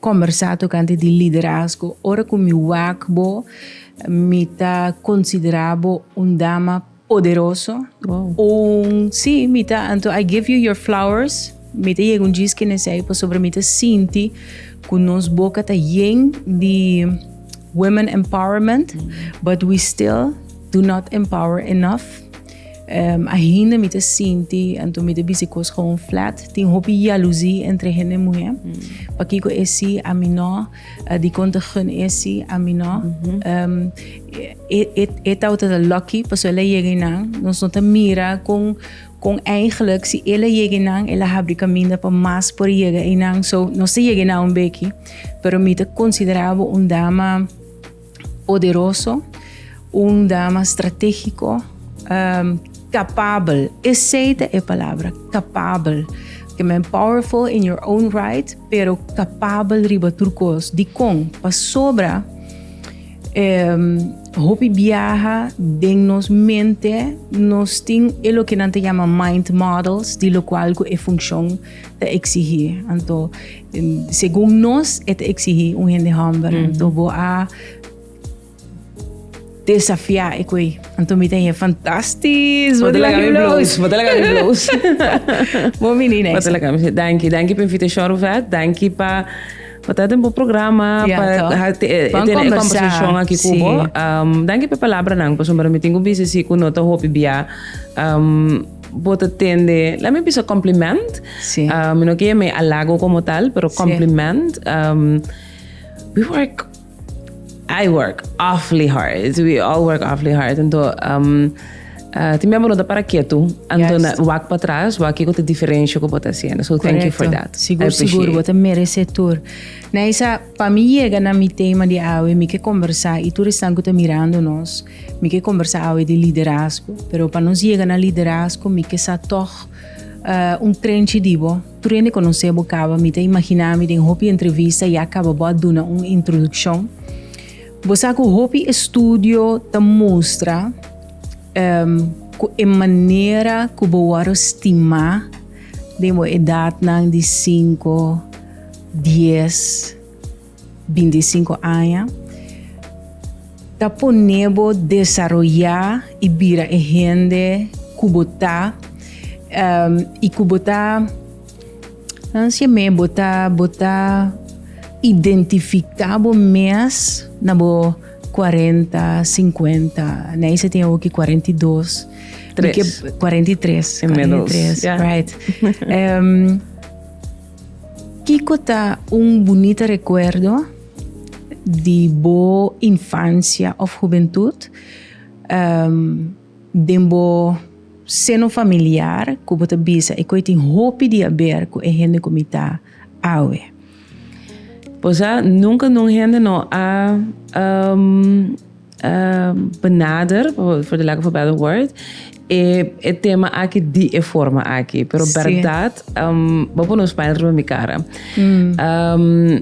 Kombersá tokante di liderazgo. Ora ku mi wak bo, mi ta konsiderá bo un dama poderoso, un, sí, mi ta, anto I give you your flowers, mi ta yega un djis kende esei pasobra mi ta sinti ku nos boka ta yen di women empowerment, but we still do not empower enough. Um, ainda mi ta sinti, anto mi ta bisi kos gewoon flat. Tin hopi jaluzi entre hende muhe. Mm. Pa kiko esi a mi no, uh, di konta gun esi a mi no. Mm -hmm. um, e, e, e tau ta lucky, paso ele yega nan. Nos no ta mira kon kon eigenlijk si ele yega nan, ele habri kaminda pa mas por yega nan. So, nos ta yega nan un beki, pero mi ta considerabo un dama Poderoso, un dama stratégico, um, capabel. Esei ta e palabra, capabel. Porque men powerful in your own right, pero capabel riba tur cos. Di con? Pasobra um, hopi biaha den nos mente, nos tin e loke nan ta yama mind models, di locual cu e funcion ta exigí. Anto, segun nos, e ta exigí un hende humble. Mm. Anto, bo a desafiá e kui. Anto, mi ten je fantastisch. Wat la kami bloos. Wat la kami bloos. Bo mini next. Wat la kami. Danki, danki pa invitacion, Ruvet. Danki pa... Wat aten bo programa, yeah, pa tene e conversacion aki kubo. Um, danki pa palabra nan, pa sombra mi tingu bise si ku nota hopi bia. Um, Bo ta tende, la mi bisa compliment. Sí. Uh, mi no quiere me halago como tal, pero compliment. Sí. Um, we work, I work awfully hard. We all work awfully hard. Entonces, um, uh, ti miembro nota para quieto. Anton yes. wak para atrás, wak que te diferencia que vos haciendo. So Correcto. thank you for that. Seguro, seguro, vos merece tour. Naisa, para mí llega na mi tema de awe, mi que conversar y tú están que te mirando nos. Mi ke kombersá awe di liderazgo, pero pa nos yega na liderazgo mi ke sa tòg un trenchi di bo. Tur hende konosé bo kaba, mi ta imaginá mi den hopi entrevista ya kaba bo a duna un introdukshon. Bo sa ku hopi estudio ta mustra ku e manera ku bo wòrdu stimá den bo edatnan di sinku, dies. 25 aña ta poné bo desaroyá i bira e hende ku bo ta um, i ku bo ta hansia mé bo ta bo ta identifiká bo mes na bo 40, 50, Neise tin awoki 42. Tres. Mi ke 43, 43, yeah. right. um, Kiko ta un bunita rekuerdo di bo infansia òf hubentut den bo seno familiar ku bo ta bisa e ku a tin hopi di aber ku e hende ku mi ta awe? Bo sa nunka un hende no a benader for the lack of a better word e e tema aki di e forma aki pero sí. verdad um, bo por nos pijna riba mi cara mm. um,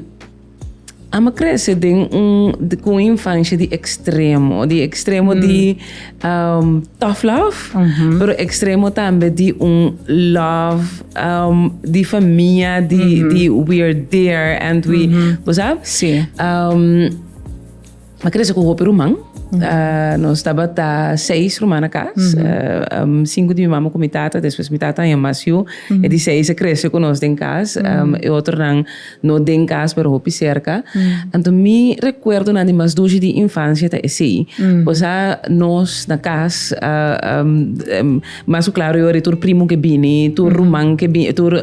ama crece den un de, con un infancia di extremo di extremo mm. di um, tough love uh -huh. pero extremo también di un love um, di familia di, uh -huh. di we are there and we uh -huh. ¿vos sabes? Sí. Um, M'a crece cu hopi ruman. Nos tabata seis ruman na cas. Cinco di mi mama cu mi tata, despues mi tata a yama mas yu. E di seis a crece cu nos den cas. E otronan no den cas, pero hopi cerca. Anto mi recuerdonan di mas dushi di infancia ta esey. Pues a nos na cas, mas cu claro yori, tur primo ke bini, tur ruman ke bini, tur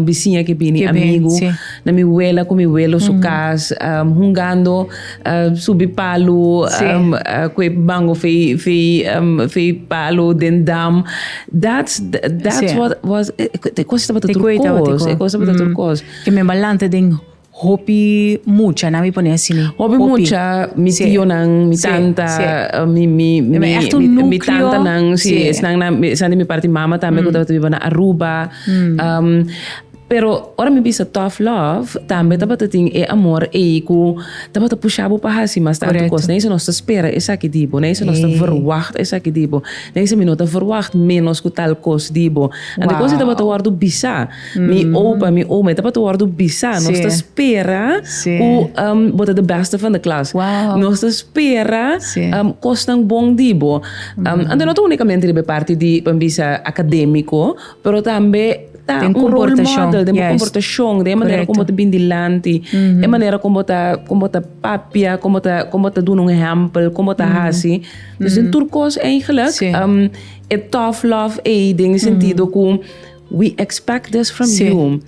bisiña ke bini, amigo, na mi wela cu mi welo su cas, hungando. Uh, subi palu sí. um, uh, kue bango fei fei um, fei palu den dam that's that's sí. what was eh, te cosa estaba te koi estaba te koi cosa estaba te mm. kos que me balante den hopi mucha na mi pone así ni hopi, hopi. mucha mi sí. tío nan mi sí. tanta sí. Uh, mi mi mi, mi, mi, mi tanta nan sí, sí. están na están de mi parte mama también mm. que estaba viva na Aruba mm. um, Pero ora mi bisa tough love, tambe tabata tin e amor ei ku tabata pusha bo pa hasi mas tantu kos. Correcto. No esei nos ta spera esaki di bo, no esei nos ta Ei. verwagt esaki di bo, no esei mi no ta verwagt ménos ku tal kos di bo. Anto kos ei Wow. tabata wòrdu bisa. Mi opa, mi oma, e tabata wòrdu bisa. Sí. Nos ta spera Sí. ku ehm bo ta de bèste van de klas. Wow. Nos ta spera Sí. ehm kosnan bon di bo. Ehm anto no ta únikamente riba e parti di, pa mi bisa, akadémiko, pero tambe Ta un role model den bo comportacion, den e manera con bo ta bini dilanti, e manera con bo ta, con bo ta papia, con bo ta, con bo ta duna un ehempel, con bo ta haci. Dus den tur cos eigenlijk, e tough love ey den e sentido cu we expect this from you.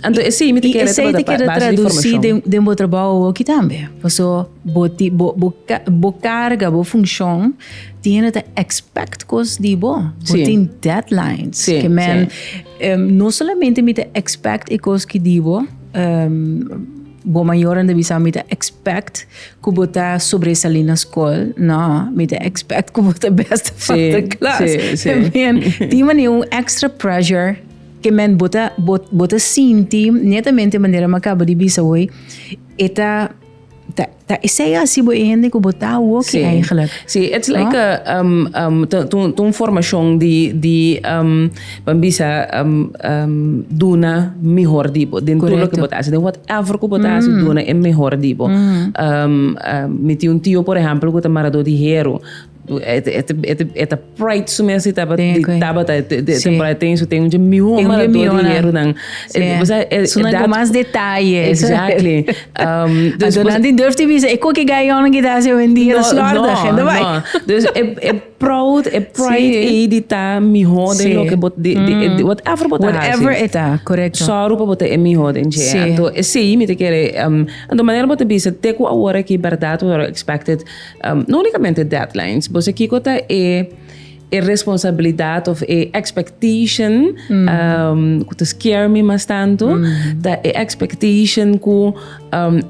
Anto esey mi ta kere ta basa di formacion. Y esey ta kere traduci den bo trabou awor aki tambe. Paso. Bo ti bo bo bo carga bo función tin hende ta expect cos di bo bo tin deadlines sí, que men sí. Um, no solamente mi te expect e cos ki di bo um, bo mayor anda bisa mi te expect ku bo ta sobresalí na skol no mi te expect ku bo ta best van de klas sí, sí. men ti mani un extra pressure que men bota bota sinti netamente manera me acaba de bisa hoy eta Ta, ta esei asi bo e hende ku bo ta awoki Sí. eigenlijk. Sí, it's like a, um, um, ta, ta, un- ta un formacion di, di um, pa bisa um, um, duna mihor di bo. Den tur Correcto. loke bo ta hasi, den whatever ku bo ta hasi, duna e mihor di bo. Um, um, mi tin un tio, por ehempel, ku ta marador di heru. E ta pride su mes di Tabata. E ten su tengo un miho mara tur di hiernan. Su nan cu mas detaye. Exactly. Anto nan tin durf di bisa, e cu aki gayonan ki ta hasi hoendia ta slordig. No, no. Dus e proud, e pride ei di ta miho den loke bo, di whatever bo ta hasi. Whatever e ta, correcto. Sòru pa bo ta e miho den dje. Si. Anto esei mi ta kere, anto manera bo ta bisa, te cu awor aki berdad, word expected, No unicamente deadlines, bo sa kico ta e e responsabilidad of e expectation cu ta scare mi mas tanto, ta e expectation cu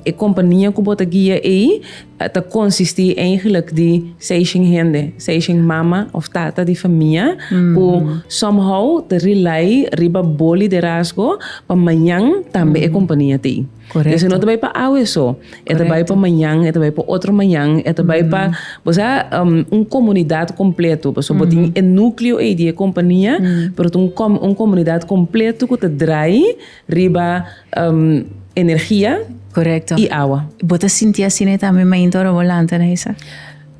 e compania cu bo ta guia ey ta consisti eigenlijk di seishen hende, seishen mama of tata di famia cu somehow ta rely riba bo liderazgo pa mañan tambe e compania ta ey. Correcto. Deci no ta bay pa awe so, e ta bay pa mañan, e ta bay pa otro mañan, e ta bay pa, bo sa, um, un comunidad completo. Paso bo tin e nucleo ey di e compania, pero ta un com- un comunidad completo cu ta draai riba, um, energia Correcto. y awa. Bo ta sinti asina tambe mainta ora bo lanta na esa?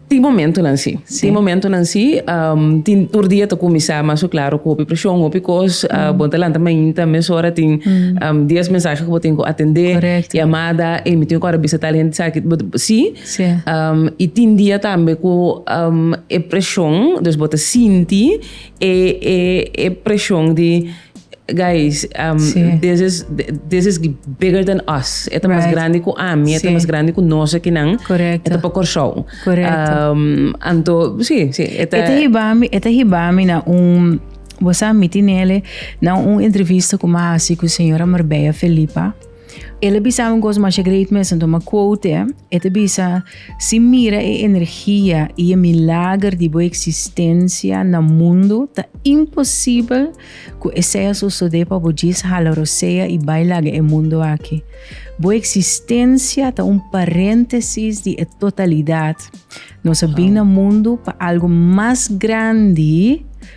Tin momentunan sí. Sí. Tin momentunan sí. Um, tin tur dia ta kuminsá mas ku klaro ku hopi preshon, hopi kos. Uh, mm. Bon ta lanta mainta mesora tin mm. um, dies mensahe ku bo tin ku atendé, Correcto. llamada, e mi tin ku ora bisa tal hende saki. Sí. Sí. Um, i tin dia tambe ku um, e preshon, dus bo ta sinti e, e, e preshon di Guys um, Sí. this is this is bigger than us. Eta mas Right. grande ku ami, eta Sí. mas grande ku nos akinan. Correcto. Eta pa Kòrsou. Correcto. Um, anto, sí, sí. Eta, Eta hibami, eta hibami na un, bo sa miti nele, na un entrevista ku mi a hasi ku señora Marbella Felipa. El a bisa un cosa masha great mester toma quote e ta bisa si mira e energia y e milager di bo existencia na mundo ta imposible cu e sea sosode pa bo djis hala rosea y bay laga e mundo aki bo existencia ta un parentesis di e totalidad nos a bin na mundo pa algo mas grandi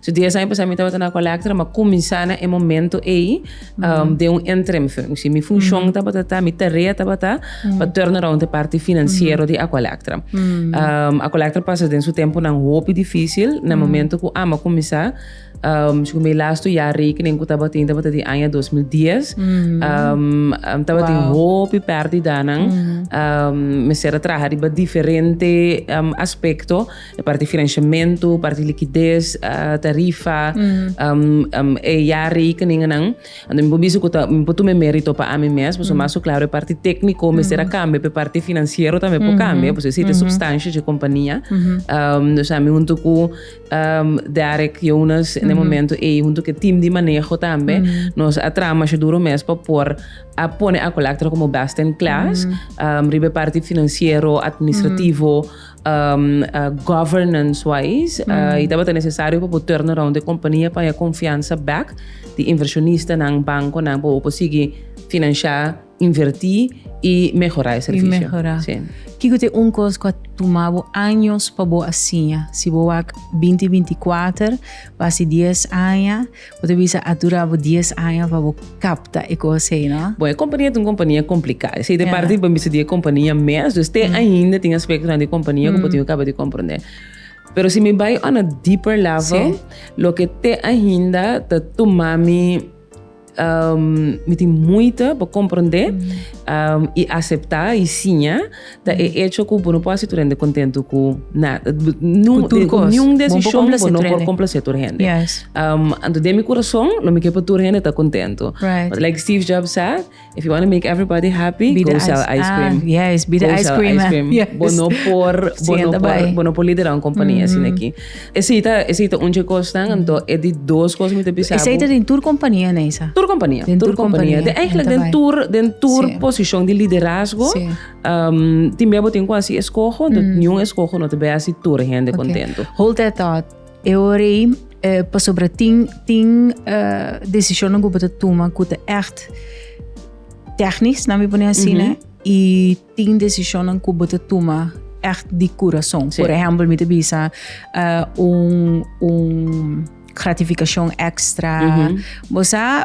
So dies aña pasá mi tabata na Collector, ma kuminsá na e momento ei um, den un interim functie. Mi funshon tabata ta, mi tarea tabata pa turn around e parte financiero di Aqualectra. Um, Aqualectra pasa den su tempo nan hopi difícil, na momento ku ama kuminsá, um, si mi lasto ya rekening ku tabata tin tabata di aña 2010, um, um, tabata tin hopi pérdidanan, um, mi sera traha riba diferente um, aspekto, E parti financiamento, parti liquidez, tarifa, e jaarrekeningennan. Anto mi por bisa cu ta, mi por tuma e merito pa ami mes, pasobra mas cu claro e parti tecnico mester a cambia, pero e parti financiero tambe por cambia, pasobra esey ta e substancia dje compania. Dus ami hunto cu Derek Jonas den e momento ey, hunto cu e team di maneho tambe, nos a traha masha duro mes pa por a pone Acolectra como best in class riba e parti financiero, administrativo. Governance wise, e tabata necesario pa bo turn around e compania pa haya confiansa back di inversionistanan, banconan pa bo por sigui financia, inverti y mehora e servicio. Kico ta e un cos cu a tuma bo años pa bo a siña? Si bo wak binti binti kuater, basi dies aña, Bo ta bisa a dura bo dies aña pa bo kapta e kos hei, no? Bon, e kompania ta un kompania kompliká. Esei ta e parti ku bo ta bisa di e kompania mes. Dus te ainda tin aspektonan di kompania ku bo tin ku kaba di komprondé. Pero si mi bai on a deeper level, loke te ainda ta tuma mi mi tin muita pa komprondé i aseptá i siña, Ta e echo cu bo no por haci tur hende contento cu nada. Cu tur cos. Niun decision bo no por complace tur hende. Yes. Um, anto den mi corazon lo mi ke pa tur hende ta contento. Right. But like Steve Jobs said, if you want to make everybody happy, Be go sell ice cream. Ah, yes, be the ice cream. Go sell ice cream. Yes. Bo no por, bo no por, bo no por lidera un compania mm -hmm. asina aki. Esei ta esei ta un dje kosnan, anto e di dos kos mi ta bisa bo. Esei ta den tur kompania, Neisa? Tur kompania, Den tur tur kompania. kompania. Den eigenlijk Enta den bai. tur den tur Sí. posishon di liderazgo. Sí. ehm, tin bia bo tin ku hasi eskoho, anto Mm. niun eskoho no ta bai hasi tur hende Ok. kontento. Hold that thought. E ora ei, eh, pasobra tin, tin eh, decisionan ku bo ta tuma ku ta echt technisch, laat me pone así, Mhm. né? Y tin decisionnan cu bo ta tuma echt di curason. Por ehempel, mi ta bisa un, un gratificacion extra. Bo sa,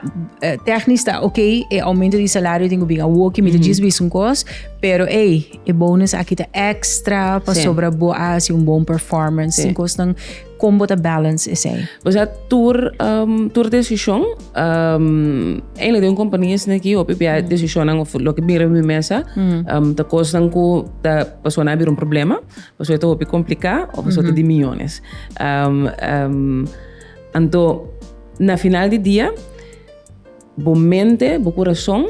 technisch ta ok, e aumento di salario tin cu bin awoki, mi ta djis bisa un cos, pero ey, e bonus aki ta extra pasobra bo a haci un bon performance. Tin cosnan. Kon bo ta balance esei? O sea, tur um, tur decision, um, eindelijk den compagnie is neki hopi bia mm. decisionan of loke bira mi mesa, mm. um, ta kosnan ku ta paso na bira un problema, paso ta hopi komplika of paso mm -hmm. ta di millones. Um, um, anto na final di dia Bo mente, bo kurason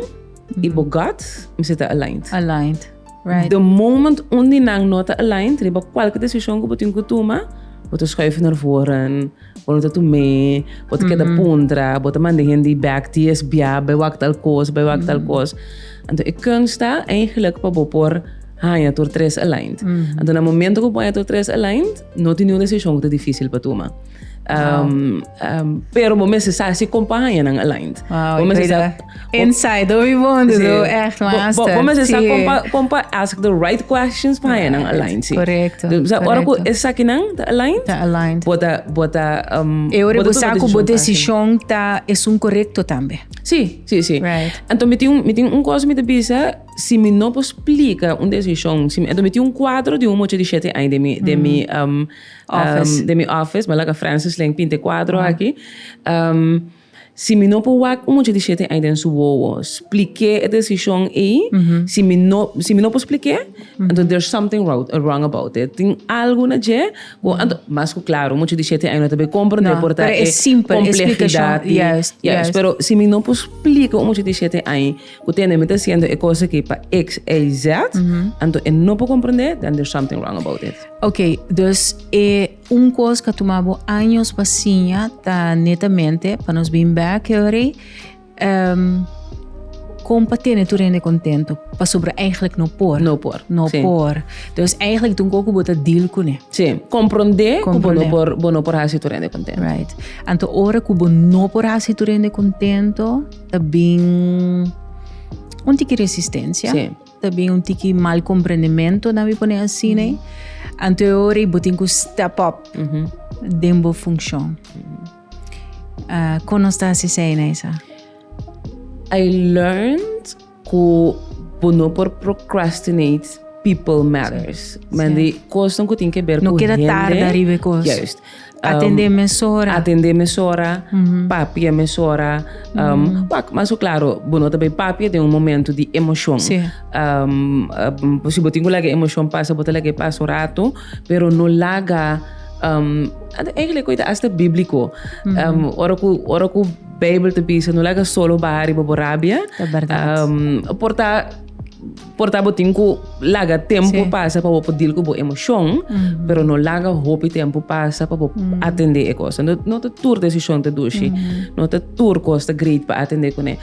i bo gut mester ta aligned. Aligned. Right. The moment un di nan no ta aligned riba kualke desishon ku bo tin ku tuma, bo ta schuif na voren, bo no ta tum'é, bo ta keda puntra, bo ta manda hende i bek ti es bia, bai wak tal kos, bai wak tal kos. Anto e kunst ta eigelijk pa bo por haña tur tres aligned. Anto na momento ku bo haña tur tres aligned, no tin niun desishon ku ta difísil pa tuma. Um, um, pero bo mensen sa si compañía nan aligned. Wow, bo mensen sa inside do we want to do echt laatste. Bo, bo, bo mensen sa compa compa ask the right questions pa right. nan aligned. Si. Correcto. Dus sa ora ku esa ki nan ta aligned. Ta aligned. Bota bota um e ora bo sa ku bo decision ta es un correcto tambe. Si, si, si. Right. Anto mi tin mi tin un cosa mi te bisa si mi no po explica un decision, si mi, anto mi tin un cuadro di un moche di 7 años de mi mm. de mi um Office. den mi office, mi a laga Francis Ling pinta e kuadro aki. Ehm, si mi no por wak un mucha di shete ai den su wowo, splik'é e desishon ei, si mi no, si mi no por splik'é, anto there's something wrou- wrong about it. Tin algu na dje ku, anto, mas ku klaru, mucha di shete ai no ta bay kompra, anto e No, por ta pero e e simpel esplikacion, komplehidat di, juist, yes, juist. pero si mi no por splika un mucha di shete ai, Cu tene mi ta haciendo e cosa aki pa X, Y, Z, anto e no por comprende, then there's something wrong about it. Ok, dus e un cos ca tuma bo años pa siña ta netamente pa nos bin back here, um, con pa tene tur hende contento, pasobra eigenlijk no por. No por, No sí. por. Dus eigenlijk tun co cu bo ta deal cu ne. Sí, comprende cu bo no Comprende. por, bo no por haci tur hende contento. Right. Anto ora cu bo no por haci tur hende contento, Ta bin un tiki resistencia. Sí. Ta bin un tiki mal comprendimento, na mi pone así, né? Anto e ora y bo tin cu step up den bo funcion. Ah, con nos ta haci esey, Neisa? I learned Ku bo no por procrastinate people matters. Men di kosnan ku tin ke ber ku hende. No keda tarda riba e kos. Juist. Atendé mesora. Atendé mesora, papia mesora. Wak, mas ku klaro, bo no ta bai papia den un momentu di emoshon. Si. Si bo tin ku laga e emoshon pasa, bo ta laga e pasa un ratu, pero no laga, eigenlik oita asta bíbliko, ora ku, ora ku. Bijbel ta bisa no laga solo baha riba bo rabia. Ta berdad. Por ta por ta bo tin ku laga tempu Sí. pasa pa bo por deal ku bo emocion, pero no laga hopi tempu pasa pa bo atende e kos. No no ta tur decision ta dushi, no ta tur kos ta great pa atende kuné.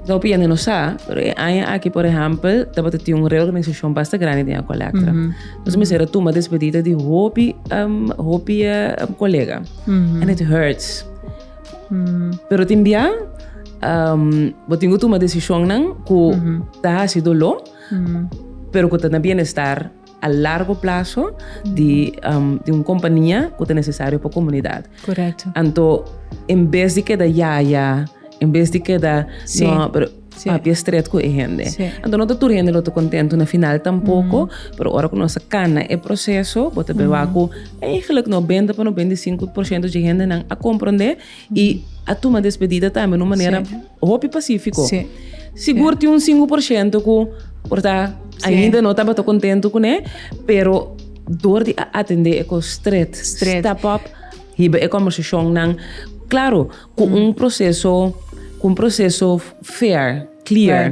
Lo por yende no sa, pero e aña aki por ehempel tabata tin un reorganisacion basta grandi den Ecualectra. Nos a mester a tuma despedida di hopi hopi colega and it hurts. Pero tin bia bo tin ku tuma desishonnan ku ta hasi doló, pero ku ta na bienestar a largo plaso di un kompania ku ta nesesario pa komunidat. Anto en bes di keda yaya, en bes di keda. papia estret ku e hende. Anto no ta tur hende lo ta kontentu na final tampoko, pero ora ku nos a kana e proseso bo ta bin wak ku eigentlik nobenta pa nobenta i sinku por shento di e hendenan a komprondé i a tuma despedida tambe na un manera hopi pasífiko. Sigur tin un sinku por shento ku por ta ainda no tabata kontentu kuné, pero dor di a atendé e kos stret, step up, hiba e kòmbersashonnan. Klaro. Cu un proceso, cu un proceso fair, clear,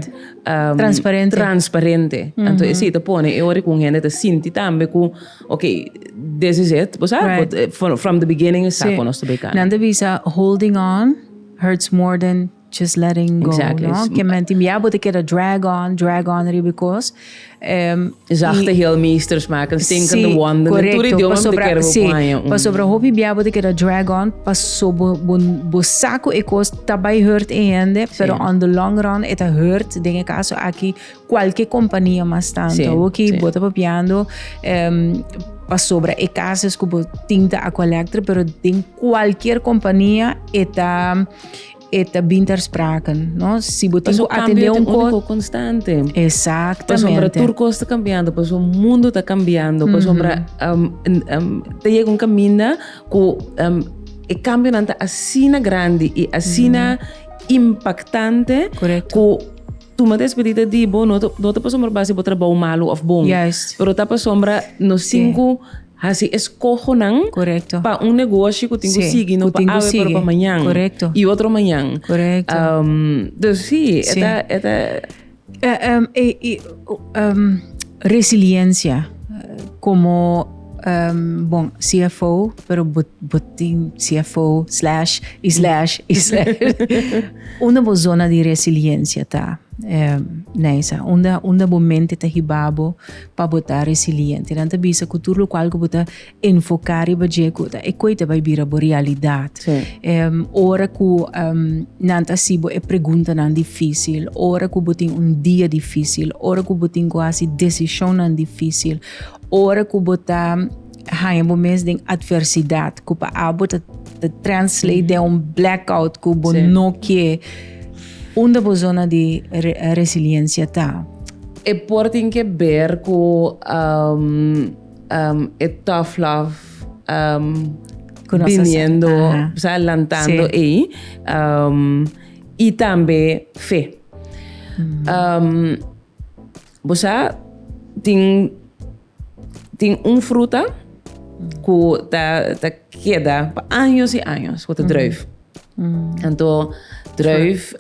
transparente, transparente. Uh -huh. Esi te pone e ori cu un hende te sinti tambe cu, ok, this is it, bo sa, right. Eh, from, from the beginning, sa sí. nos te bekana. Nan te bisa, holding on hurts more than just letting go, exactly. no? Que menti, ya bo te keda drag on, drag on riba cos, Zachte heel meesters maken stinkende wonden. Correcto. Tur idioma mi ta kere bo kuaña. Sí. Pasobra hopi bia bo ta keda drag on paso bo bo bo sa cu e cos ta bay hurt e hende pero on the long run e ta hurt den e caso aki cualke compania mas tanto hoki bo ta papiando pasobra e casos cu bo tin ta a collector pero den cualkier compania e ta e ta bin ter sprake, no? Si bo tin ku atende un kos konstante. Exactamente. Pasobra tur kos ta cambiando, paso mundo ta cambiando, pasobra um, um, ta llega un caminda ku um, e cambio nan ta asina grande i asina impactante. Correcto. Ku tu ma despedida di bo no, no ta pasobra basi bo trabou malu of bon. Juist. Pero ta pasobra no sinku. Hasi eskohonan pa un negoshi ku tin ku sigui, no pa awe pero pa mañan i otro mañan. Dus si, e ta, e ta. Resiliencia komo bon CFO pero bo tin CFO slash i slash i slash. Unda bo zona di resiliencia ta Neisa? Unda bo mente ta hiba bo pa bo ta resiliente. Nan ta bisa cu tur locual cu bo ta enfoca riba dje cu ta ecoe ta bay bira bo realidad. Ora cu nan ta haci bo e preguntanan dificil, ora cu bo tin un dia dificil, ora cu bo tin cu haci decisionnan dificil, ora cu bo ta. haña bo mes den adversidad cu pa abo ta, ta translate den un blackout cu bo no kie. Unda bo zona di re, resiliencia ta? E por tin ke ber ku um, um, e tough love um, Ku nos biniendo, hasa- aha. o sea, lantando Sí. ei. Um, y tambe fe. Um, bo sa, tin Tin un fruta ku ta ta keda pa años i años, ku ta druif. Anto druif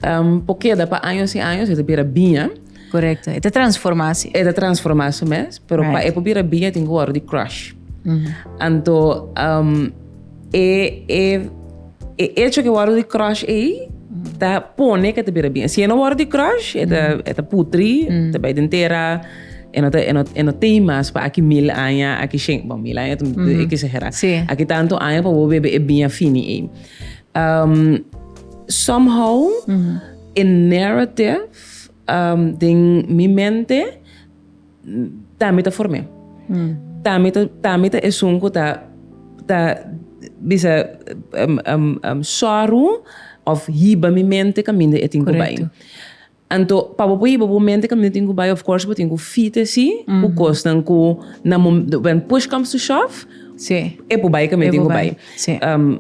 por keda pa años i años, e ta bira biña. Korekto. E ta transformá si. E ta transformá su mes, pero pa e por bira biña tin ku wòrdu di crush. Anto. E echo cu e worde di crush ey ta pone cu e ta bira bien. Si e no worde di crush, e ta putri, ta bay den tera, e no tey mas pa aki mil aña, aki shen, bon, mil aña ta exagera, aki tanto aña pa bo bebe e biña fini ey. Somehow e narrative den mi mente. Tambi ta form'é. Tambi ta, tambi ta esun ku ta, ta bisa sòru òf hiba mi mente kaminda e tin ku bai. Anto, pa bo por hiba bo mente kaminda e tin ku bai, òf kors bo tin ku fita si ku kosnan ku na when push comes to shove, e por bai kaminda e tin ku bai.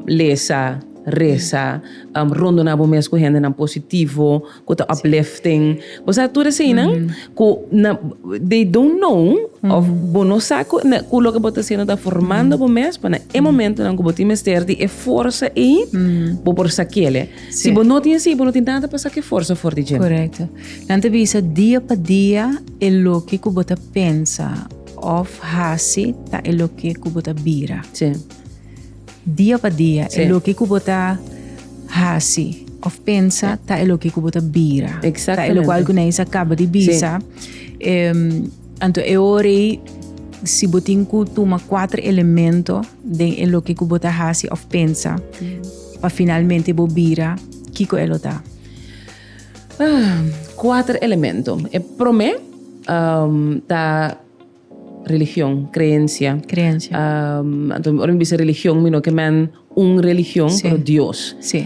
Lesa, resa, rondoná bo mes ku hendenan positivo. ku ta uplifting bo sa tur eseinan ku na they don't know of bo no sa ku na ku loke bo ta hasiendo ta formando bo mes pa na e momentonan ku bo tin mester di e forsa ei bo por sa kele si bo no tin así bo no tin nada pa sa ke forsa for di djén Correcto. Nan ta bisa dia pa dia e loke ku bo ta pensa of hasi ta e loke ku bo ta bira. si Dia pa dia, e loke ku bo ta hasi of pensa, ta e loke ku bo ta bira. Ta e lokual ku Neisa kaba di bisa. Anto e ora ei, si bo tin ku tuma kuater elemento den e loke ku bo ta hasi of pensa, pa finalmente bo bira, kiko e lo ta? Kuater elemento. E promé ta. Religion, creencia. Creencia. Anto ora mi bisa religion mi no ke men un religion, Sí. pero Dios. Sí.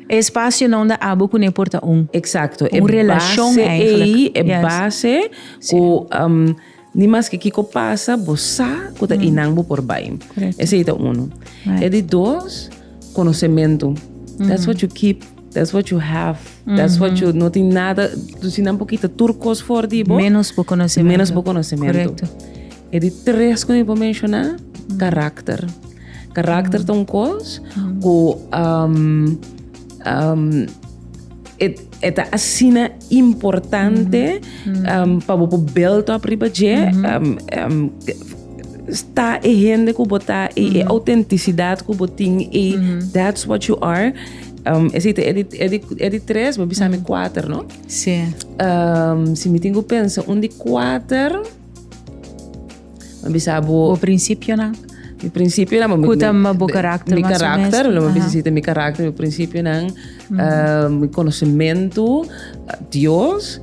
E espacionan unda abo kuné por ta un. Exacto. Un relashon E base eigenlijk. ei, e Yes. base Sí. ku um, ni mas ke kiko pasa, bo sa ku ta i nan bo por bai. Korekto. Esei ta unu. Right. E di dos. conocemento. That's what you keep. That's what you have. That's what you... No tin nada. Tu si nan pokita tur cos for di bo. Menos bo conocemento. Menos bo conocemento. Correcto. E di tres cu mi por menciona, carácter. Carácter ta un cos cu... Um, um, e, e ta asina Importante pa bo por build up riba dje. Sta e hende ku bo ta, e autentisidad ku bo tin, e that's what you are. Esei ta e di tres, bo bisa mi kuater, no? Si mi tin ku pensa un di kuater. Mi bisa bo. Bo principionan. Mi principionan. Mi karakter. Cu ta bo karakter mas o mes. Mi karakter, lo mi bisa si ta mi karakter, mi principionan, mi conocimento, Dios,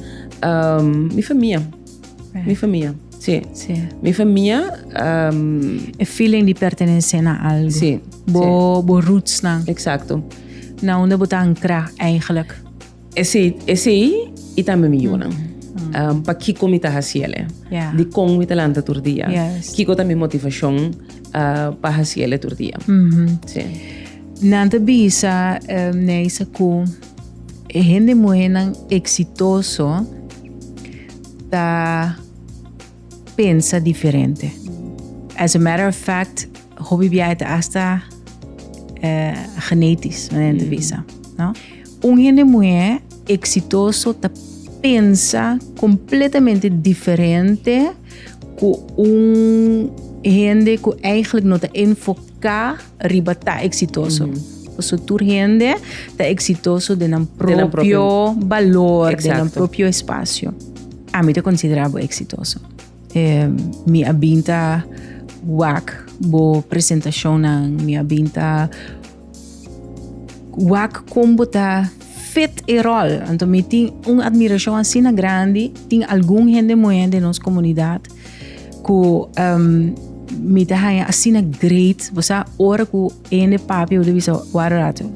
mi famia. Mi famia, si. Si. Mi famia. E feeling di pertenece na algo. Si. Bo rootsnan. Exacto. Na unda bo ta ancra eigenlijk. Esei, esei i tambe mi yunan. Um, pa kiko mi ta hasi ele? Yeah. Di kon mi ta lanta tur dia? Yes. Kiko ta mi motivacion uh, pa hasi ele tur dia? Sí. Nan ta bisa, eh, Neisa, ku e hende muhernan eksitoso ta pensa diferente. As a matter of fact, hopi biaha ta hasta eh, genetisch, nan ta bisa, no? Un hende muhé eksitoso ta pensa kompletamente diferente ku un hende ku eigenlijk no ta enfoká riba ta eksitoso. Paso tur hende ta eksitoso den nan propio balor, den nan propio espasio. Ami ta konsiderá bo eksitoso. Mi a bin ta wak bo presentashonnan, mi a bin ta. Wak kon bo ta fit e rol. Anto mi tin un admiracion asina grandi. Tin algun hende moe de nos comunidad ku um, mi ta haya asina great. Bo sa ora ku hende papi yo de bisa wara rato.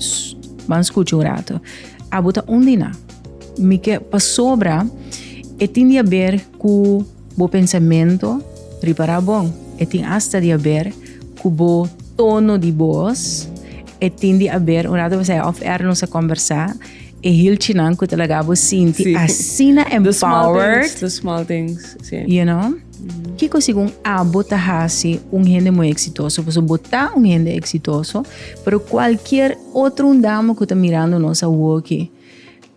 Ban skucha un rato. Abo ta undina. Mi ke pasobra e tin di haber ku Bo pensamentu riba ra bon e tin asta di aber ku bo tono di bos e tin di aber un ratu pasá off air nos a kombersá e hilchinan ku ta laga bo sinti asina empowered the small things si you know kiko segun abo ta hasi un hende muy exitoso paso bo ta un hende exitoso pero kualkier otro undamo ku ta mirando nos awoki.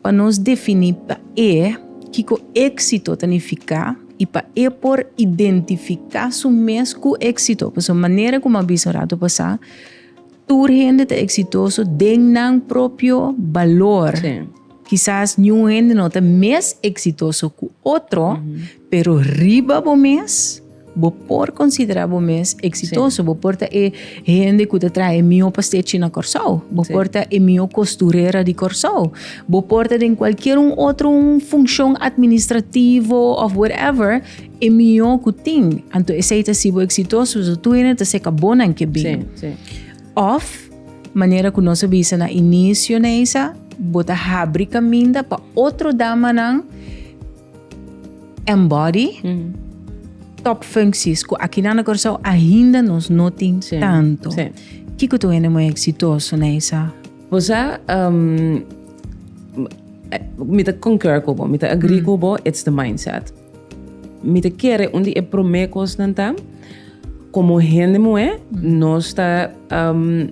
Pa nos definí pa e kiko éksito ta nifiká i pa e por identifiká su mes ku éksito. Paso manera ku a bisa un ratu pasá, tur hende ta eksitoso den nan propio balor. Kisas niun hende no ta mes eksitoso ku otro, Pero riba bo mes, bo por considera bo mes exitoso. Bo por ta e hende cu ta traha e miho pastechi na Corsou. Bo por ta e miho costurera di Corsou. Bo por ta den cualkier un otro un funcion administrativo of whatever e miho cu tin. Anto esey ta si bo exitoso. So tur hende ta seca bonan ke bin. Of manera cu nos a bisa na inicio, Neisa, bo ta habri caminda pa otro damanan. Embody, top functies cu aquí na Curaçao ainda nos no tin sí, tanto. Sí. Kiko tu hende muy exitoso na esa? Pues a, um, mi te concur con vos, mi te agree mm. con vos, it's the mindset. Mi te quiere un día primer cosa como hende mujer, mm. no está um,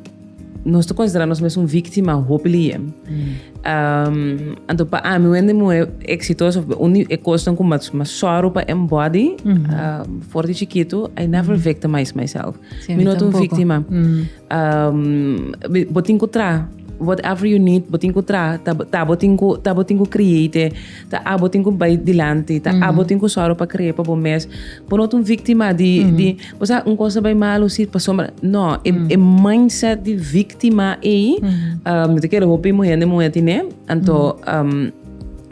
Nos ta considera nos mes un víctima hopi liye. Um, anto pa ami wende muhe exitoso uni e kosten ku mas mas soru pa en body mm -hmm. uh, for di chiquito I never mm -hmm. victimize myself. Sí, Mi no un víctima. Mm -hmm. um, botin ku tra whatever you need botin ku tra ta botin ku ta botin ku create Ta abo tin ku bai dilanti, ta abo tin ku sòru pa kree pa bo mes. Bo no ta un víktima di, di bo sa un kos ta bai mal, un sit pasobra. No, e, e mindset di víktima ei, mi ta kere hopi muhé hende muhé tin'é, anto,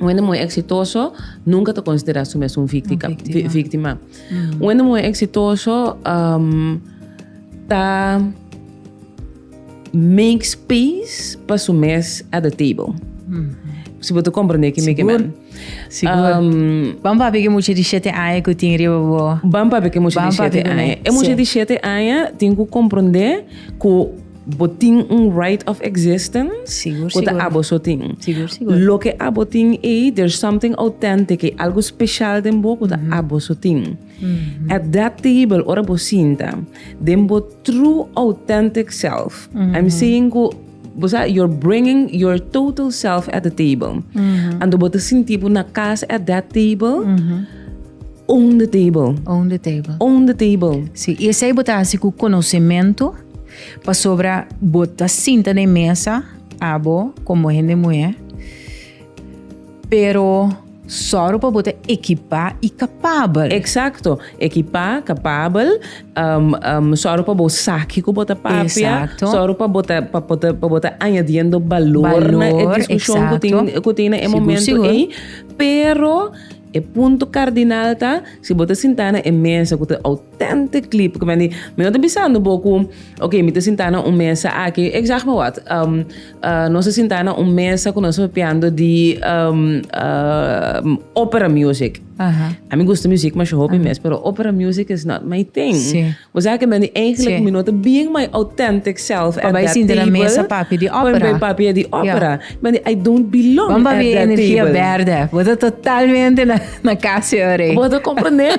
un hende muhé eksitoso nunka ta konsiderá su mes un víktika, víktima. Un hende muhé eksitoso ta. Make space pa su mes at the table. Si bo ta comprende ki mi ke men. Sigur. Um, Ban papi ke mucha di shete aña ku tin riba bo. Ban papi ke mucha di shete aña. E mucha di shete aña tin ku comprende ku bo tin un right of existence. Sigur, sigur. Ku ta abo so tin. Sigur, sigur. Loke abo tin ei, there's something authentic ei, algo special den bo ku ta abo so tin. Mm-hmm. Adaptable, ora bo sinta, den bo true authentic self. Mm-hmm. I'm saying go, bosa, you're bringing your total self at the table. Mm-hmm. Ando bo te sinti bo na casa at that table. Mm-hmm. Own the table. Own the table. Own the table. Sí, y ese bo ta hace con conocimiento, pa sobra bo ta sinta na mesa, abo, como gente mujer, Pero, sòru pa bo ta ekipá i kapabel. Eksakto. Ekipá, kapabel, sòru pa bo sa ke ku bo ta papia, sòru pa bo ta pa bo ta añadiendo balor na e diskushon ku tin ku tin na e momentu ei. Pero, e punto kardinal ta, si bo ta sintá na e mesa ku ta Tente clip cu meni, mi no ta bisando bo cu, ok, mi ta sinta na un mesa aki, ik zeg maar wat, um, uh, nos ta sinta na un mesa cu nos ta papiando di um, um, opera music. Aha. A mi gusta muziek masha hopi ah. mes, pero opera music is not my thing. Sí. We zeggen meni, eigenlijk sí. mi no ta being my authentic self at that table. Bij mesa papi di opera. Bij papi di opera. Yeah. Meni, I don't belong Bamba at that table. Bamba energia verde. We ta totalmente na, na casa ore. We ta comprende.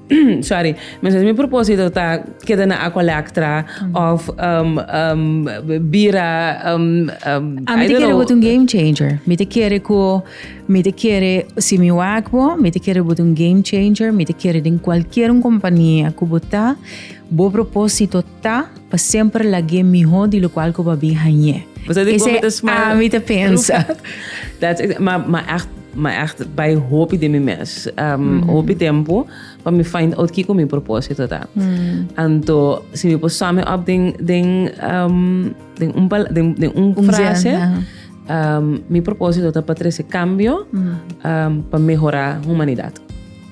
Sorry, mi sa si mi propósito ta keda na Aqua Lectra of um, um, bira um, um, A mi I te don't kere know. bot un game changer. Mi te kere ku mi te kere si mi wak bo, mi te kere bot un game changer, mi te kere den kualkier un kompania ku bo ta, bo propósito Ta, pa semper lag'é mihó di lokual ku bo a bin hañ'é. Esa di kon mi ta smile. Ami ta pensa. That's ex, ma, ma ègt, ma ègt bai hopi den mi mes. Hopi tempu pa mi find out kiko mi propósito ta. Anto si mi por sum it up den, den, den un pala, den, den un frase, mi propósito ta pa trese kambio pa mehorá humanidat.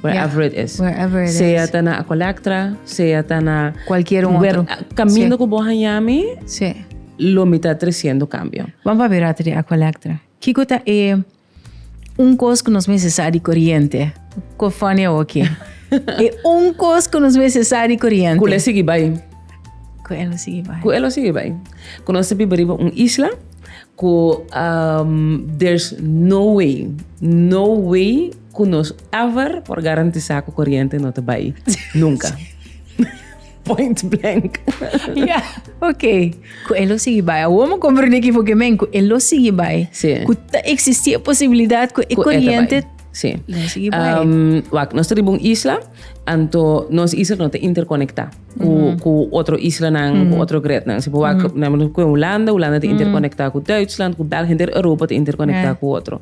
Wherever it is. Wherever it is. Sea ta na Acolectra, sea ta na... Cualquier un otro. Camino cu bo hañami. Sí. Lo mi ta treciendo cambio. Vamos pa bira ta di Acolectra. Kico ta e un cos cu nos mester sa di coriente? Cu funny awo aki. e un cos cu nos mester sa di coriente. Cu le sigui bay. Cu e lo sigui bay. Cu e lo sigui bay. Cu nos ta biba riba un isla cu um, there's no way, no way Cu nos ever por garantisa cu coriente no ta bay. Nunca. Point blank. Ya, ok. Cu e lo sigui bay. Awor me comprende ki porque men cu e lo sigui bay. Sí. Cu ta existi e posibilidad cu e Cu e ta bay. coriente Sí. lo sigui bay. Um, wak, nos ta riba un isla, anto nos isla no ta interconecta cu, cu otro islanan, cu otro grednan. Si bo wak, por ejemplo, cu Hulanda, Hulanda ta interconecta cu Duitsland, cu België, henter Europa ta interconecta cu otro.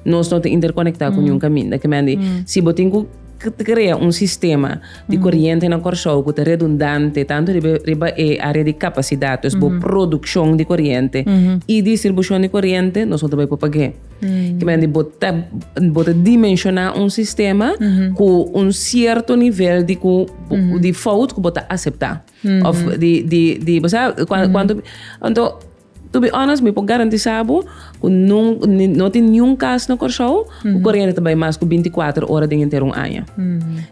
Nos no ta interconecta cu niun caminda. Ke mandi, si bo tin cu crea un sistema di coriente na Corsou cu ta redundante tanto riba riba e area di capacidad, dus bo produccion di coriente y distribucion di coriente, nos no ta bay por pag'e. Ke mandi, bo ta bo ta dimensiona un sistema cu un cierto nivel di cu di fout cu bo ta acepta of di di di bo sa cuanto. Anto. To be honest mi por garantisa bo ku no tin niun kas na Kòrsou ku koriente ta bai mas ku binti kuater ora den henter un aña.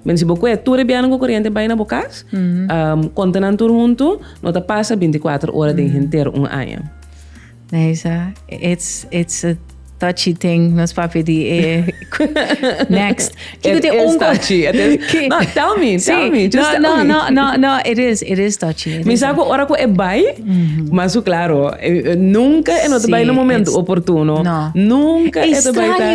Mende si bo kue tur e biaha ku koriente bai na bo kas, kontanan tur huntu no ta pasa binti kuater ora den henter un aña. Neisha, it's it's a. touchy thing nos papi di e next kiko te un touchy no tell me tell me just tell me no no no it is it is touchy mi sa ku ora ku e bai mas su claro nunca e no ta bai na momento oportuno nunca e ta bai ta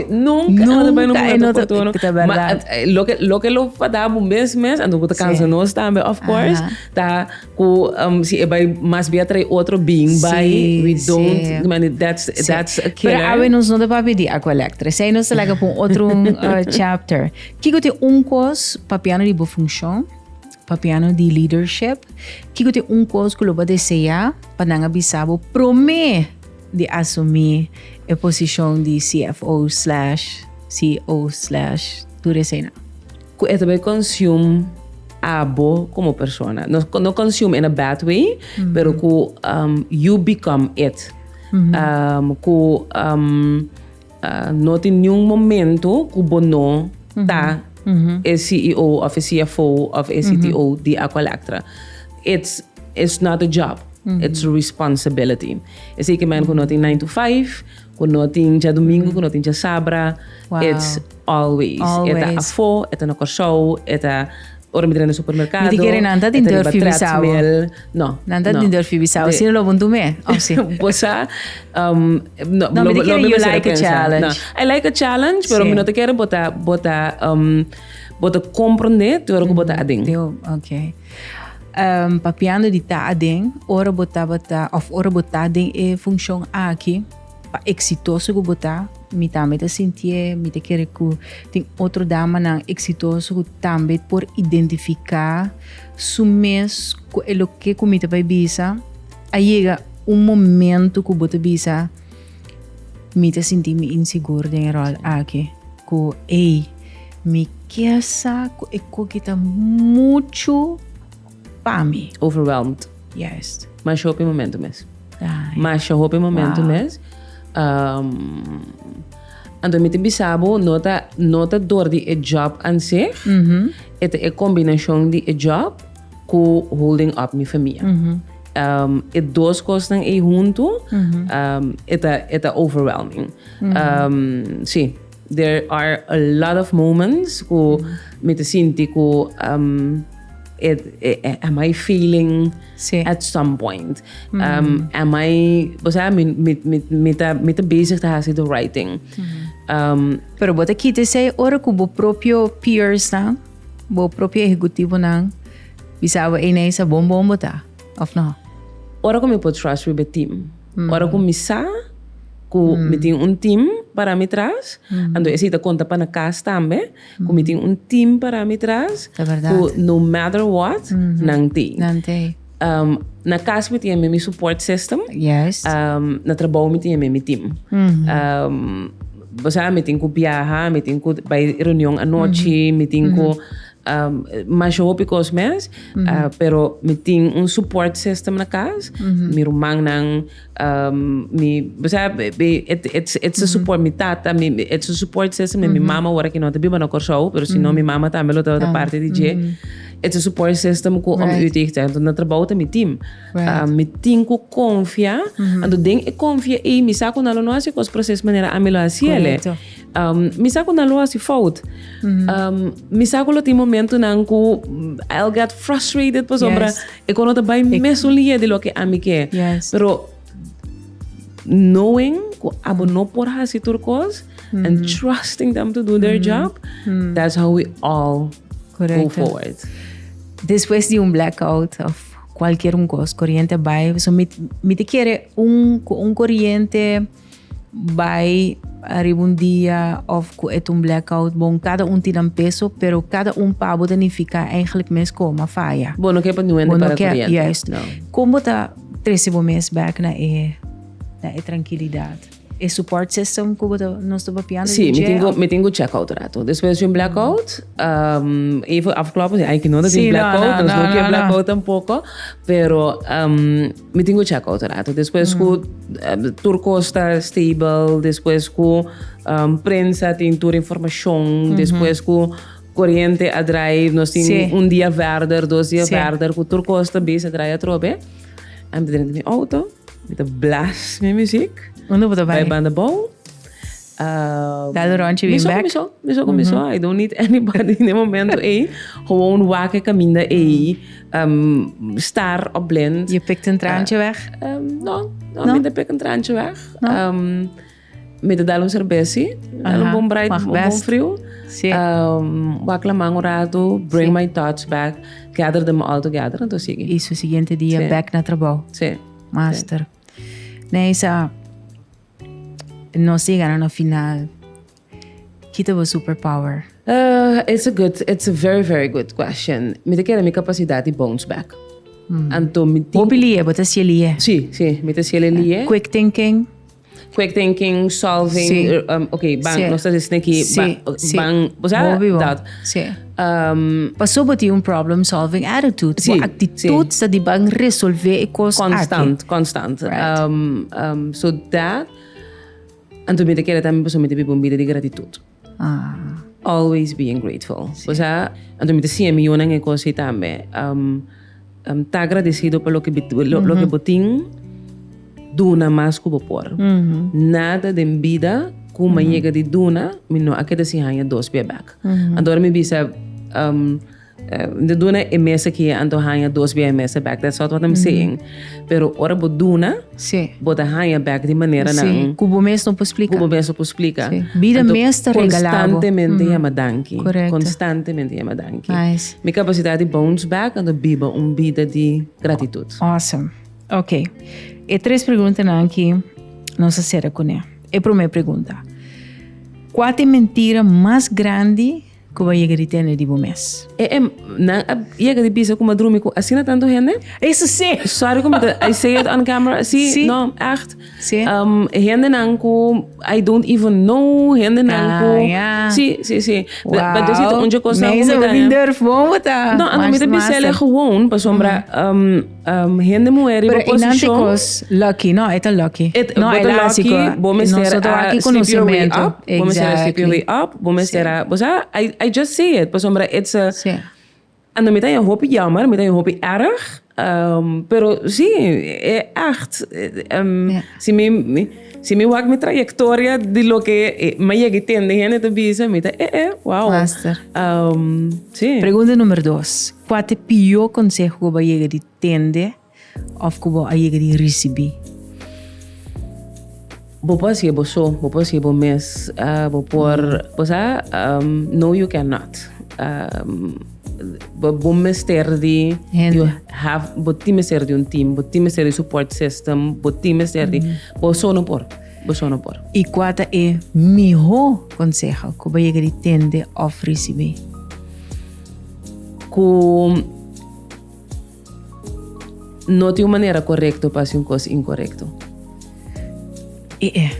nunca e no ta bai na momento oportuno ma loke loke lo fadabo mes mes anto ku ta kansa nos tambe of course ta. Cu si e bay mas bia trae otro bin bay we don't mani that's that's a killer. Pero awe nos no ta papia di aqua electric. Esey nos ta laga pa un otro chapter. Kico ta e un cos papiano di bo funcion, papiano di leadership? Kico ta e un cos cu lo bo a desea pa nan a bisa bo prome di asumi e posicion di CFO slash CEO slash tur eseynan? Cu e ta bay consume abo como persona. No, no consume in a bad way, pero cu um, you become it. Um, cu um, uh, no tin niun momento cu bo no ta e CEO of e CFO of e CTO di Aqualectra. It's, it's not a job, it's a responsibility. Esey ke men cu no tin nine to five, Ku no tin djadumingu, ku no tin djasabra, it's always. E ta afó, e ta na Kòrsou, e ta ora mi dra na supermerkado. Mi di kere nan ta den dor fi bisa bo. No. Nan ta den dor fi bisa bo. Sino lo bo ntum'é òf si? Bo sa, no. No, mi ta kere you like a challenge. I like a challenge, pero mi no ta kere bo ta, bo ta, bo ta komprondé te ora ku bo ta aden. Oké. Papiando di ta aden, ora bo tabata of ora bo ta den e funcion aki, pa exitoso cu bo ta, mi tambe ta sinti'e, mi ta kere cu tin otro damanan exitoso cu tambe por identifica su mes cu e loke cu mi ta bay bisa, a yega un momento cu bo ta bisa. Mi ta sinti mi insigur den e rol aki ku ei mi kesa ku e kuki ta muchu pa mi. Overwhelmed. Yes. Masha hopi momento mes. Ay. Masha hopi momento wow. mes. Um, anto mi te bisabu no ta no ta dor di e job an seh. Mm -hmm. E ta e combinacion di e job Cu holding up mi famia. E dos cosnan ey hunto e ta overwhelming. Sí, there are a lot of moments cu mi ta sinti cu am I failing at some point? Am I, bo sa, mi ta bezig ta haci the right thing. Pero bo ta kita esey ora cu bo propio peers nan? Bo propio ehecutivonan bisaba ei na esa bon bon bo ta, of no? Ora cu mi por trust wiback team. Ora cu mi sa cu mi tin un team para mi tras, anto esey ta conta pa na cas tambe, cu mi tin un team para mi tras, cu no matter what, nan tey. Um, na kas mi tin e mimi support system. Yes. Um, na trabou mi tin e mimi team. Mm-hmm. Um, bosa mi tin ku biaha, mi tin ku bai reunion anochi, mm-hmm. mi tin ku um, mas hopi kos mes, uh, pero mi tin un support system na kas. Mi rumannan Um, mi, bo sa, et, et, et se support mi tata, mi, et se support se se mi mama ora ki no te biba na Kòrsou, pero si no mi mama tambe lo tawata parte di dje, et se support se se mo ku om uit te ta, anto na trabou ta mi team. Um, mi tin ku konfia, anto den e konfia ei mi sa ku nan lo no hasi kos proses manera ami lo hasi ele. Um, mi sa ku nan lo hasi fout. Um, mi sa ku lo tin momentunan ku I'll get frustrated pasobra E coro ta bay mesun liye di loke ami ke. Yes. Pero knowing ku abo no por hasi tur kos and trusting them to do their job, that's how we all go Correcto. forward. Despues di un blackout of cualquier un cos, corriente bay, so mi, mi te kere un, un corriente bai ariba un dia of cu et un blackout bon cada un tin nan peso pero cada un pa bo ta nifica eigenlijk mes cu ma faya. Bo no ke pa duende para coriente. Juist. No. Con bo ta trece bo mes back na e na e trankilidad? E support system cu bo ta nos ta papiando di dje. Si, mi tin go mi tin go check out rato. Despues di un blackout even afkloppen si ay ki no ta tin blackout nos no ke blackout tampoco pero. Mi tin ku chèk otro rato. Despues ku tur kos ta stable, despues ku prensa tin tur informashon, despues ku koriente a drai, nos tin un dia vèrder, dos dia vèrder, ku tur kos ta bisa drai atrobe, a mi ta drenta mi outo, mi ta blast mi muzik, bai banda bou, Um, Dal rondje bin back. Miso, miso, mm miso. I don't need anybody in the momento ei. Gewoon wake caminda ei. Um, star op blend. Je pikt een traantje uh, weg? Um, no, no, no, minder pik een traantje weg. No. Um, me te dal un cervezi. Dal un bon bright, un bon frio. Sí. Um, wak la man un rato. Bring sí. my thoughts back. Gather them all together. Entonces sigue. Y su siguiente día sí. back na trabajo. Sí. Master. Sí. Neisa, Nos yega na no final. Kita bo super power. Uh, it's a good, it's a very, very good question. Mi te kere mi capacidad di bounce back. Mm. Anto mi tin... Bopi lie, bota sie lie. Sí, sí, mi te sie lie. Yeah. Quick thinking. Quick thinking, solving, sí. um, ok, bang, sí. no está diciendo que sí. bang, sí. bang, o sea, Bobi, dat. Sí. Paso bo tin un problem solving attitude. Bo aktitut sta di ban resolve e kos aki. Konstant, konstant. So dat, anto mi ta kere tambe paso mi ta biba un bida di gratitut. Always being grateful. Pasobra anto mi ta siña mi yunan e kos ei tambe. Am ta agradecido pa loke bit lo, loke bo tin duna mas ku bo por. Nada den bida ku ma yega di duna mi no a keda sin haña dos bia bek. Anto ora mi bisa um, eh, mi ta duna e mes aki anto haña dos bia e mes bek. That's not what I'm saying. Pero ora bo duna, sí. bo ta haña bek di manera nan. Sí, ku bo mes no por splika. Ku bo mes no por splika. Sí. Bida mes ta regala bo. Konstantemente yama danki. Korekto. Konstantemente yama danki. Nice. Mi kapasidat di bounce back, anto biba un bida di gratitut. Awesome. Ok. E tres preguntanan aki nos a sera kuné. E promé pregunta. Kua ta e mentira mas grandi? Ku bo a yega di tene di bo mes? E em, nan a yega di bisa ku mi a drumi ku asina tantu hende? Eso sí! Sorry ku mi ta, I say it on camera, sí, Sí. no, ègt. Sí. Um, hendenan ku I don't even know, hendenan ku... Ah, ya. Sí, sí, sí. Wow. Da- da- Dosito un dje kos nan ku mi Meiso, ta... mi durf bon bo ta. No, mi ta mas, bisa mas, ele eh. gewoon, pasobra, um, Um, hende muhé riba posishon. Pero e nan te kos lucky, no, e ta lucky. Et, no, e lucky, bo mester a sleep your way up, bo mester a sleep your way up, bo mester a, bo sa, I, I just say it, pasobra it's a, ando mi ta e hopi jammer, mi ta e hopi erg, um, pero si, e echt, um, si mi, si mi wak mi trayectoria di loke e, mi yegi tende hende ta bisa, mi ta, eh, eh, wow. Master. Um, si. Pregunta numero dos. Kua ta e pió konseho ku bo a yega di tende òf ku bo a yega di risibí? Bo por hasié bo so, bo por hasié bo mes, bo por bo sa no you can not. Bo mester di you have bo tin mester di un team, bo tin mester di support system, bo tin mester di bo so no por, bo so no por. I kua ta e mihó konseho ku bo a yega di tende òf risibí? cu no tin un manera corecto pa haci un cos incorecto. E e.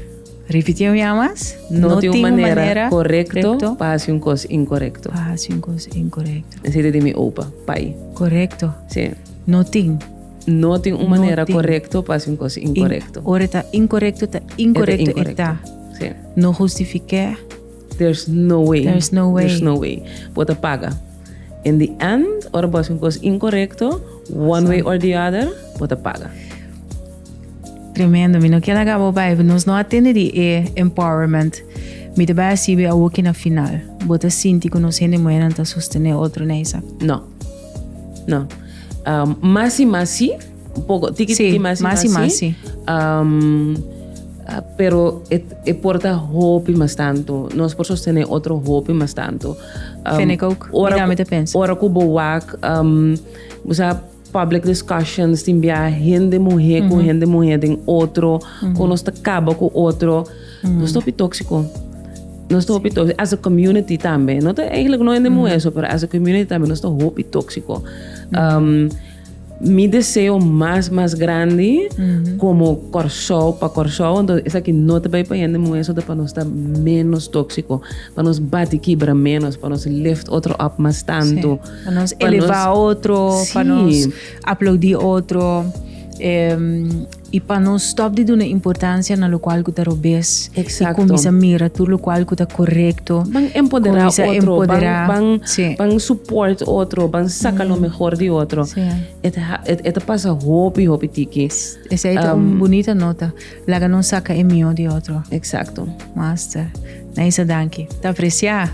Repitieu ya mas. No, no tin un manera, manera correcto, correcto pa haci un cos incorrecto. Pa haci un cos incorrecto. Ese de mi opa, pai. Correcto. Sí. No tin. No tin un manera no correcto pa haci un cos incorrecto. In, ora ta incorrecto, ta incorrecto, eta. Sí. No justifique. There's no way. There's no way. There's no way. Bo ta paga. In the end, ora bo hasi un kos inkorekto, one way or the other, bo ta paga. Tremendo. Mi no ken laga bo bai. Nos no a tende di e empowerment. Mi te bai a sibi awoki na final. Bo ta sinti ku nos hende muhernan ta sostene otro, Neisa? No. No. Um, mas i mas si, Un poco, tiki Sí, tiki masi masi masi. masi. Am, ah, pero e, e porta hopi mas tanto. Nos por sostener otro hopi mas tanto. Am, Vind ik ook. Ora, Mira, met de pens. ora ku bo wak, am, bo sa public discussions tin bia hende muhe ku hende muhe den otro, ku nos ta kaba ku otro. Nos ta hopi tóksiko. Nos ta hopi tóksiko. As a community tambe. No ta eigenlijk no hende muhe so, pero as a community tambe nos ta hopi tóksiko. Am, Mi deseo mas mas grandi como Corsou pa Corsou entonces esaki no ta bay pa hende muhe zote pa nos ta menos toxico pa nos bati kibra menos pa nos lift otro up mas tanto sí pa nos eleva otro sí pa nos aplaudi otro. I pa no stòp di duna importansia na lokual ku ta robes. Eksakto. I kuminsá mira tur lokual ku ta korekto. Ban empoderá otro. Kuminsá empoderá. Ban, ban, sí. ban support otro, ban saka lo mehor di otro. Sí. E ta, e ta pasa hopi, hopi tiki. Esei ta un bunita nota. Laga nos saka e mihó di otro. Eksakto. Master. Naisa danki. Ta apresiá.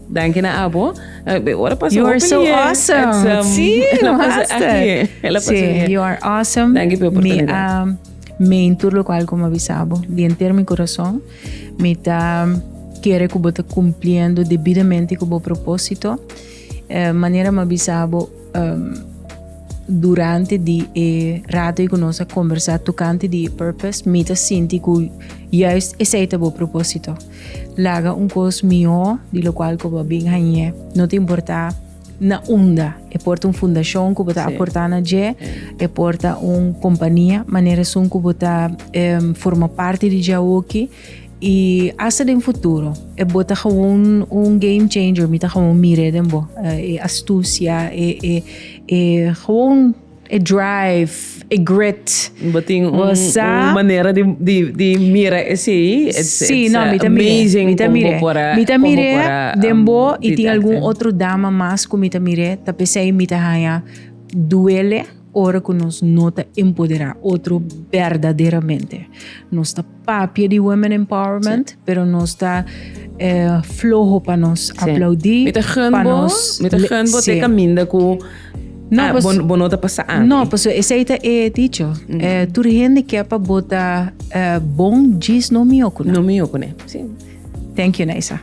Danki na abo. E ora pasa hopi lier. You are so awesome. Si, no hasta. Si, you are awesome. Danki pe oportunidad. Mi a mean tur lo cual como avisabo. Di enter mi corazon. Mi ta kere cu bo ta cumpliendo debidamente cu bo proposito. Manera m'avisabo durante di e rato cu nos a conversa tocante di e purpose. Mi ta sinti cu juist esey ta bo proposito. Laga un kos mihó di lo kual ku bo a bin hañ'é, no ta importá na unda. E por ta un fundashon ku bo ta aportá na dje, e por ta un kompania, manera esun ku bo ta forma parti di dje awoki i asta den futuro. Bo ta gewoon un game changer, mi ta gewoon mir'é den bo, e astusia, e gewoon. E drive, e grit. Bo tin un, Bosa. un manera di, di, di mira esei. It's, Sí, it's no, uh, mi ta miré. amazing Mi ta como miré. por a- Mi ta como miré por a, um, den bo y did tin algun acting. otro dama mas cu mi ta miré. Ta pesey mi ta haya duele ora cu nos no ta empodera otro berdaderamente. Nos ta papia di women empowerment, pero nos ta eh, floho pa nos aplaudí. Mi ta gun bo, mi ta gun bo te caminda cu No, ah, pues, bon, bon no te pasa a No, pues ese ahí te he dicho. Mm. Eh, tur gente que pa bota eh, bon gis no mi okuna. No mi okuna, sí. Thank you, Naisa.